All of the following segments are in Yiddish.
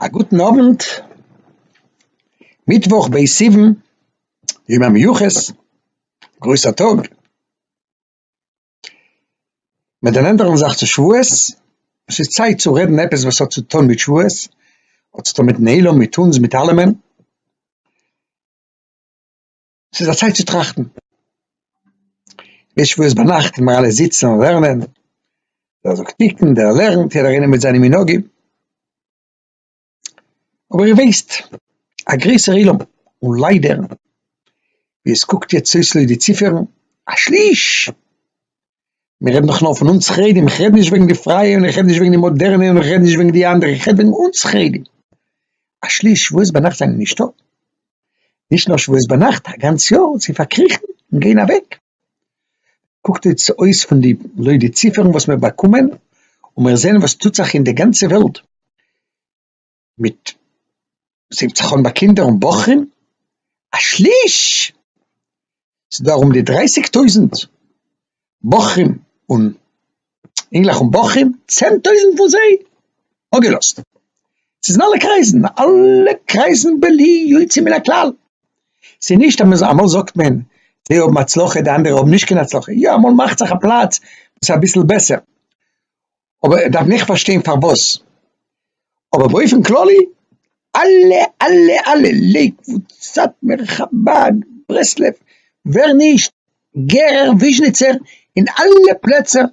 א גוטן אוונט, מיטוואך ב' סיוון, יום המיוחס, גרויסע טאג, מען דערנענטערט זיך אונז צו שבועות, עס איז צייט צו רעדן עפעס וואס האט צוטון מיט שבועות, האט צוטון מיטן עולם, מיט אונז, מיט אלעמען. ס'איז א צייט צו טראכטן. מענטשן וואס ביינאכט ווען מיר אלע זיצן און לערנען, דער זאגט תיקון, דער לערנט, יעדער איינער מיט זיינע מנהגים. אבער איר ווייסט, א גרויסער עולם, און ליידער, ווי עס קוקט יעצט אויס לויט די ציפערן, א שליש מיר רעדן דאך נאר פון אונז חרדים, איך רעד נישט וועגן די פרייע און איך רעד נישט וועגן די מאדערנע און איך רעד נישט וועגן די אנדערע, איך רעד וועגן אונז חרדים. א שליש שבועות ביינאכט זענען נישטא, נישט נאר שבועות ביינאכט, א גאנץ יאר, זיי פארקריכן און גייען אוועק. קוקט אויס פון די, לויט די ציפערן וואס מיר באקומען און מיר זעען וואס טוט זיך אין די גאנצע וועלט, מיט זינגט זיך אן ביי קינדער און בחורים א שליש! ס'איז דא ארום די דרייסיג טויזנט בחורים און אינגלעך און בחורים צען טויזנט פון זיי אפגעלאזט ס'איז אין אלע קרייזן אלע קרייזן בלי יוצא מן הכלל ס'איז נישט אז מ'זאל אמאל זאגט מען זיי האבן הצלחה די אנדערע האבן נישט קיין הצלחה יא אמאל מאכט זיך א פלאץ וואס איז אביסל בעסער אבער ער דארף נעכט פארשטיין פארוואס, אבער באופן כללי אלע אלע אלע לעיקוואוד, סאטמער, חבד, ברסלב, ווער נישט, גערער, וויזשניצער, אין אלע פלעצער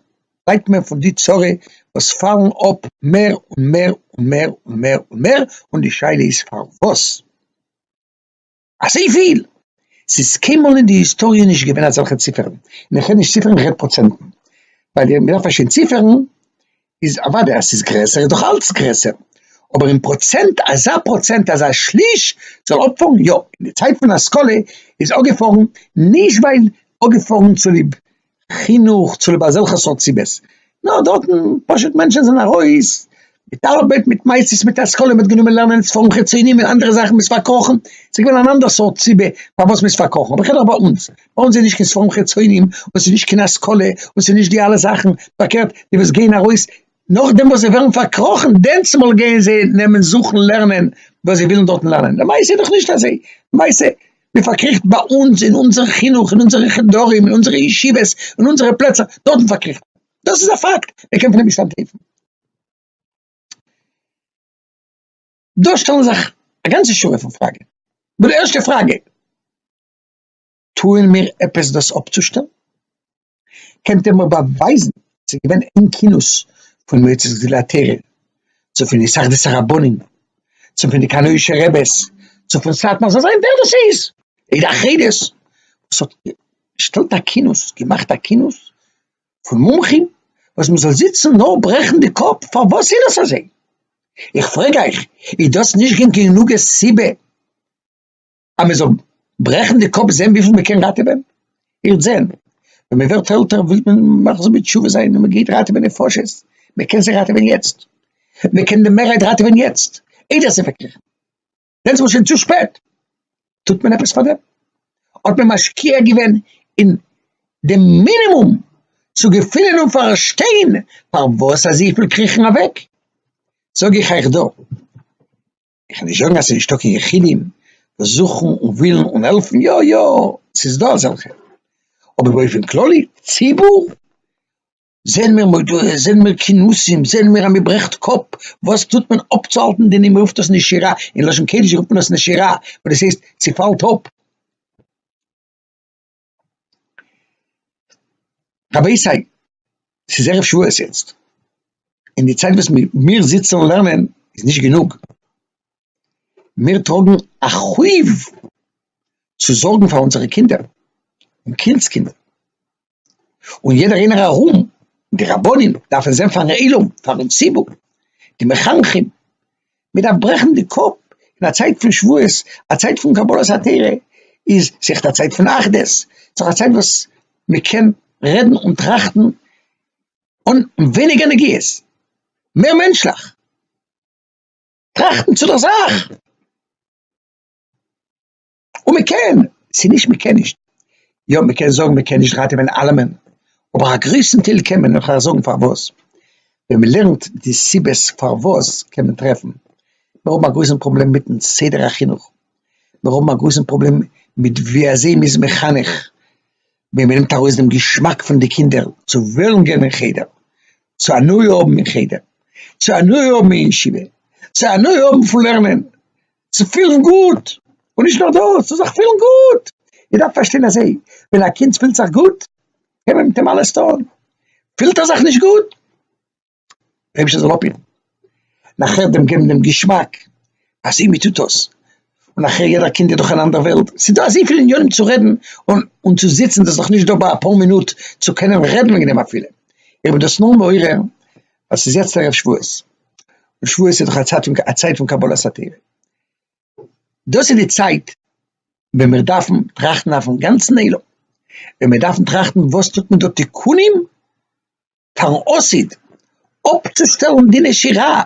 ליידט מען פון די צרה וואס פאלן אפ מער און מער און מער און מער און מער, און די שאלה איז פארוואס. אזויפיל! ס'איז קיינמאל אין די היסטאריע נישט געווען אזעלכע ציפערן, און איך רעד נישט ציפערן איך רעד פראצענטן, ווייל מ'דארף פארשטיין ציפערן איז אוודאי אז ס'איז גרעסער איז דאך אלץ גרעסער, אבער אין פראצענט אזא פראצענט אזא שליש זאל אפפארן יא, אין די צייט פון השכלה איז אפגעפארן נישט ווייל אפגעפארן צוליב חינוך צוליב אזעלכע סארט סיבות, נאר דארטן פשוט מענטשן זענען ארויס מיט ארבעט מיט מעשיות מיט השכלה מ'האט גענומען לערנען ספרים חיצונים און אנדערע זאכן מ'איז פארקראכן, ס'איז געווען אן אנדער סארט סיבה פארוואס מ'איז פארקראכן, אבער כ'רעד ביי אונז, ביי אונז איז נישט קיין ספרים חיצונים און ס'איז נישט קיין השכלה און ס'איז נישט די אלע זאכן, פארקערט די וואס גייען ארויס נאכדעם וואס זיי ווערן פארקראכן דענסמאל גייען זיי נעמען זוכן לערנען וואס זיי ווילן דארטן לערנען, למעשה איז דאך נישט אזוי, למעשה. מען פארקריכט ביי אונז אין אונזער חינוך אין אונזערע חדרים אין אונזערע ישיבות אין אונזערע פלעצער דארטן פארקריכט מען, דאס איז א פאקט מען קען פון דעם נישט אנטלויפן, דא שטעלן זיך א גאנצע שורה פון פראגעס, די ערשטע פראגע, טוען מיר עפעס דאס אפצושטעלן? קענט איר מיר באווייזן אז ס'איז געווען איין כינוס פון מועצת גדולי התורה, צו פון התאחדות הרבנים, צו פון די קאנאישע רעבעס, צו פון סאטמאר, זאל זיין ווער דאס איז, אידא חדס, וואס האט געשטעלט א כינוס, געמאכט א כינוס פון מומחים, וואס מ'זאל זיצן נאר ברעכן די קאפ פארוואס איז דאס אזוי? איך פרעג אייך, איז דאס נישט גענוג סיבה? אז מען זאל ברעכן די קאפ זען וויפיל מען קען ראטעווען, איר וועט זען ווען מען ווערט עלטער וויל מען מחזיר בתשובה זיין און מען גייט ראטעווען נפשות, מען קען זיי ראטעווען יעצט, מען קען די מערהייט ראטעווען יעצט, איידער עס איז פארקריכן, דען איז מען שוין צו שפעט, טוט מען עפעס פאר דעם? האט מען משקיע געווען אין די מינימום צו געפינען און פארשטיין פארוואס אזויפיל קריכן אוועק? זאג איך אייך דא. איך וועל נישט זאגן אז ס'איז נישטא קיין יחידים וואס זוכן און ווילן און העלפן, יא יא ס'איז דא אזעלכע, אבער באופן כללי ציבור זעען מיר מודעות, זעען מיר כינוסים, זעען מיר אז מ'ברעכט קאפ וואס טוט מען אפצוהאלטן די נומער, רופט עס נשירה, אין לשון קודש רופט מען עס נשירה, וואס דאס הייסט ס'פאלט אפ. רבותי, ס'איז ערב שבועות יעצט, און די צייט וואס מיר זיצן און לערנען איז נישט גענוג, מיר טראגן א חוב צו זארגן פאר אונזערע קינדער און קינד'ס קינדער, און יעדער איינער ארום, די רבנים דארפן זען פארן עולם, פארן ציבור, די מחנכים, מען דארף ברעכן די קאפ אין א צייט פון שבועות, א צייט פון קבלת התורה, איז זיך א צייט פון אחדות, זיך א צייט וואס מען קען רעדן און טראכטן אן ווייניגער נגיעות, מער מענטשליך, טראכטן צו דער זאך. און מען קען, ס'איז נישט מען קען נישט, יא מען קען זאגן מען קען נישט ראטעווען אלעמען, אבער א גרויסן טייל קען מען, און כ'וועל זאגן פארוואס, ווען מען לערנט די סיבות פארוואס קען מען טרעפן, מיר האבן א גרויסן פראבלעם מיטן סדר החינוך, מיר האבן א גרויסן פראבלעם מיט ווי אזוי מ'איז מחנך, ווען מען נעמט ארויס דעם געשמאק פון די קינדער צו וועלן גיין אין חדר, צו הנאה האבן אין חדר, צו הנאה האבן אין ישיבה, צו הנאה האבן פון לערנען, צו פילן גוט, און נישט נאר דאס, צו זיך פילן גוט, איר דארפט פארשטיין אזוי, ווען א קינד פילט זיך גוט קען מען מיט אים אלעס טון, פילט ער זיך נישט גוט, דער אייבערשטער זאל אפהיטן, נאכער דעם געבן דעם געשמאק אז הנה טוט דאס, און נאכער יעדער קינד איז דאך אן אנדער וועלט, ס'איז דא אזויפיל ענינים צו רעדן און און צו זיצן, דאס איז דאך נישט דא ביי אפאר מינוט צו קענען רעדן וועגן דעם אפילו, איך בין דאס נאר מעורר ווייל ס'איז יעצט ערב שבועות. און שבועות איז דאך א צייט פון א צייט פון קבלת התורה, דאס איז די צייט ווען מיר דארפן טראכטן אויפן גאנצן עולם, ווען מיר דארפן טראכטן וואס טוט מען דא תיקונים פארן עתיד, אפצושטעלן די נשירה,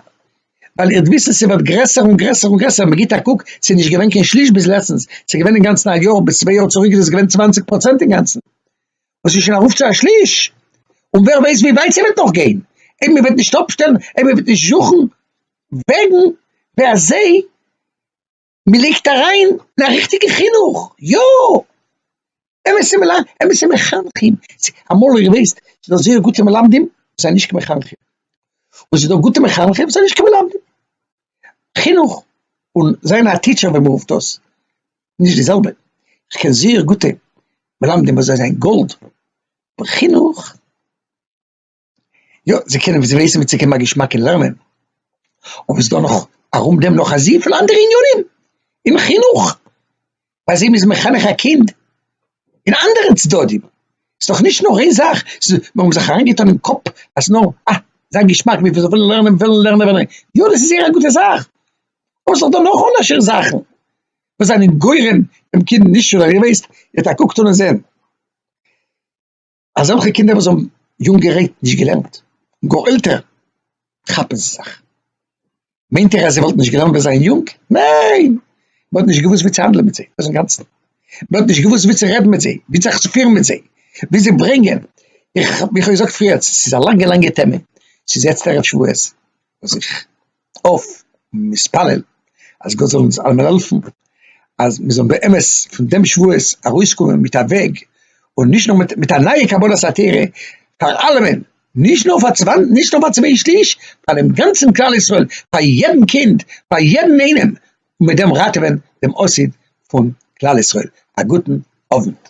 ווייל איר וויסן ס'ווערט גרעסער און גרעסער און גרעסער, מ'גיט א קוק ס'איז נישט געווען קיין שליש ביז לעצטנס, ס'איז געווען אינגאנצן א יאר, ביז צוויי יאר צוריק איז עס געווען צוואנציג פראצענט אינגאנצן, וואס איז שוין ארויף צו א שליש, און ווער ווייסט ווי ווייט ס'וועט נאך גיין, אויב מ'וועט נישט אפשטעלן, אויב מ'וועט נישט זוכן וועגן ווי אזוי מ'לייגט אריין אין א ריכטיגע חינוך, יא! אמת'ע מלמ אמת'ע מחנכים, אמאל איר ווייסט, ס'איז דא זייער גוטע מלמדים, וואס זענען נישט קיין מחנכים, און ס'איז דא גוטע מחנכים וואס זענען נישט קיין מלמדים. חינוך, און זיין א טיטשער ווי מ'רופט דאס, נישט די זעלבע, איך קען זיער גוטע מלמדים וואס זיי זענען גאלד, אבער חינוך, יא זיי קענען וויאזוי עסן צו קומען א געשמאק אין לערנען, אבער ס'דא נאך ארום דעם נאך אזוי פיל אנדערע עניינים אין חינוך, ביי זיי מ'איז מחנך א קינד אין אנדערע צדדים, ס'דאך נישט נאר איין זאך, מ'האבן זיך אריין געטון אין קאפ אז נאר אה, זיין געשמאק וויפיל זיי ווילן לערנען, וועלן לערנען, יא דאס איז זייער א גוטע זאך, אבער ס'דא נאך אנדערשע זאכן. וואס זענען גורם דעם קינד נישט צו לערנען וועסט יעצט א קוק טון און זען אזעלכע קינדער וואס האבן יונגערהייט נישט געלערנט און גאר עלטער כאפן זיי זיך, מיינט איר אז זיי וואלטן נישט געלערנט ווען זיי זענען יונג? ניין! מען האט נישט געוואוסט ווי צו האנדלען מיט זיי, דאס איז אינגאנצן, מען האט נישט געוואוסט ווי צו רעדן מיט זיי, ווי זיך צו פירן מיט זיי, ווי זיי ברענגען, איך האב געזאגט פריער, ס'איז א לאנגע לאנגע טעמע, ס'איז יעצט ערב שבועות וואס איך. אויף מתפלל אז גאט זאל אונז אלעמען העלפן אז מיר זאלן באמת פון דעם שבועות ארויסקומען מיט א וועג, און נישט נאר מיט א נייע קבלת התורה פאר אלעמען, נישט נאר פאר נישט נאר פאר צוויי שליש, פאר דעם גאנצן כלל ישראל, פאר יעדן קינד, פאר יעדן איינעם, און מיט דעם ראטעווען דעם עתיד פון כלל ישראל, א גוטן אוונט.